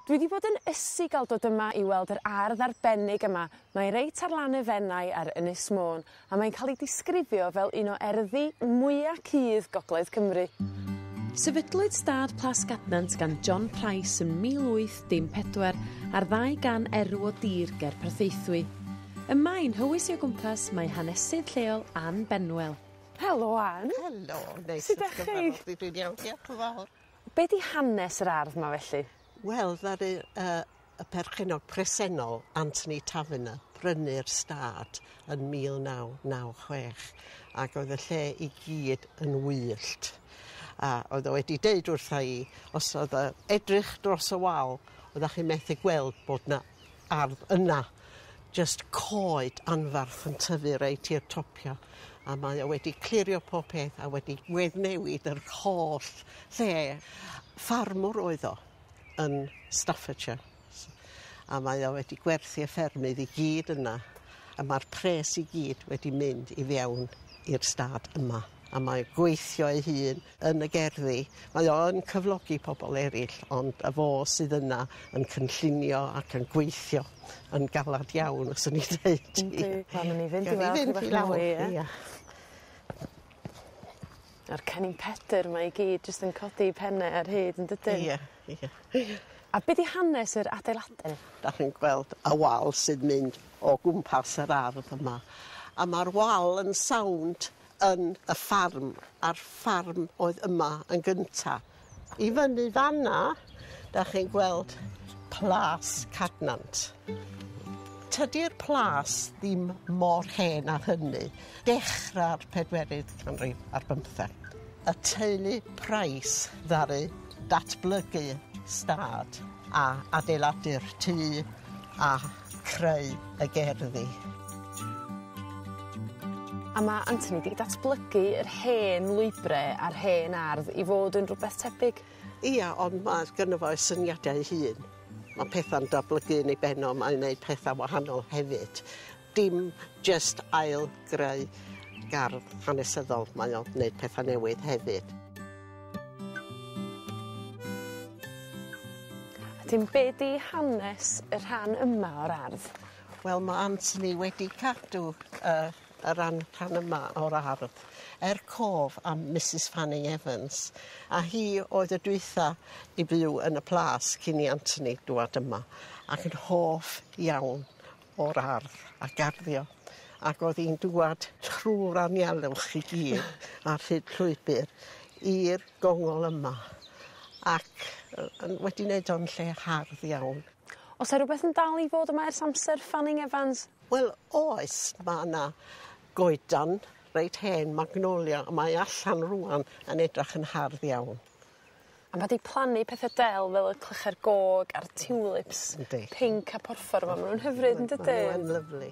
Dwi 'di bod yn ysu ga'l dod yma i weld yr ardd arbennig yma mae reit ar lan y Fenai ar Ynys Môn a mae'n ca'l 'i disgrifio fel un o erddi mwya cudd gogledd Cymru. Sefydlwyd Stad Plas Cadnant gan John Price yn 1814 ar ddau gan erw o dir ger Porthaethwy. Ym Maen Hywys i o gwmpas mae hanesydd lleol Ann Benwell. Helo Ann. Helo. Neis i dy weld di. Dwi'n iawn diolch yn fawr. Be' 'di hanes yr ardd 'ma felly? Wel ddaru yy y perchennog presennol Anthony Taverner brynu'r stad yn mil naw naw chwech ac oedd y lle i gyd yn wyllt. A oedd o wedi deud wrtha i os o'dd yy edrych dros y wal oddach chi methu gweld bod 'na ardd yna jyst coed anfarth yn tyfu reit i'r topia a mae o wedi clirio pob peth a wedi weddnewid yr holl lle. Ffarmwr oedd o yn Staffordshire s- a mae o wedi gwerthu y ffermydd i gyd yna a ma'r pres i gyd wedi mynd i fewn i'r stad yma a mae gweithio ei hun yn y gerddi. Mae o yn cyflogi pobl eraill, ond y fo sydd yna yn cynllunio ac yn gweithio yn galad iawn, fyswn i'n deud. Yndi. Wel newn ni fynd i weld... Gawn ni fynd i lawr ia? Ia. A'r Cennin Pedyr 'ma i gyd jyst yn codi 'u penne ar hyd yndydyn? Ia ia ia. A be' 'di hanes yr adeilade? 'Dach chi'n gweld y wal sy'n mynd o gwmpas yr ardd yma a ma'r wal yn sownd yn y ffarm a'r ffarm oedd yma yn gynta. I fyny fan 'na 'dach chi'n gweld Plas Cadnant. Tydi'r plas ddim mor hen â hynny. Dechra'r pedwerydd canrif ar bymtheg. Y teulu Price ddaru datblygu stad a adeiladu'r tŷ a i creu y gerddi. A ma' Anthony 'di datblygu yr hen lwybre a'r hen ardd i fod yn rwbeth tebyg. Ia ond ma' gynno fo ei syniadau ei hun. Ma' petha'n datblygu yn ei ben o mae'n neud petha wahanol hefyd. Dim jyst ail greu gardd hanesyddol mae o'n neud petha newydd hefyd. Wedyn be' 'di hanes y rhan yma o'r ardd? Wel ma' Anthony wedi cadw yy y ran rhan yma o'r ardd er cof am Misys Fanning Evans a hi oedd y dwytha i fyw yn y plas cyn i Anthony dŵad yma ac yn hoff iawn o'r ardd a garddio ac o'dd 'i'n dŵad trw'r anialwch i gyd ar hyd llwybyr i'r gongol yma ac yy yn wedi neud o'n lle hardd iawn. O's 'a rwbeth yn dal i fod yma ers amser Fanning Evans? Wel oes ma' 'na goedan reit hen magnolia a mae allan rŵan yn edrach yn hardd iawn. A ma' 'di plannu pethe del fel y clychau'r gog a'r tulips. Yndi. Pinc a porffor 'ma ma' nw'n hyfryd yndydyn? Ma' n'w yn lyfli.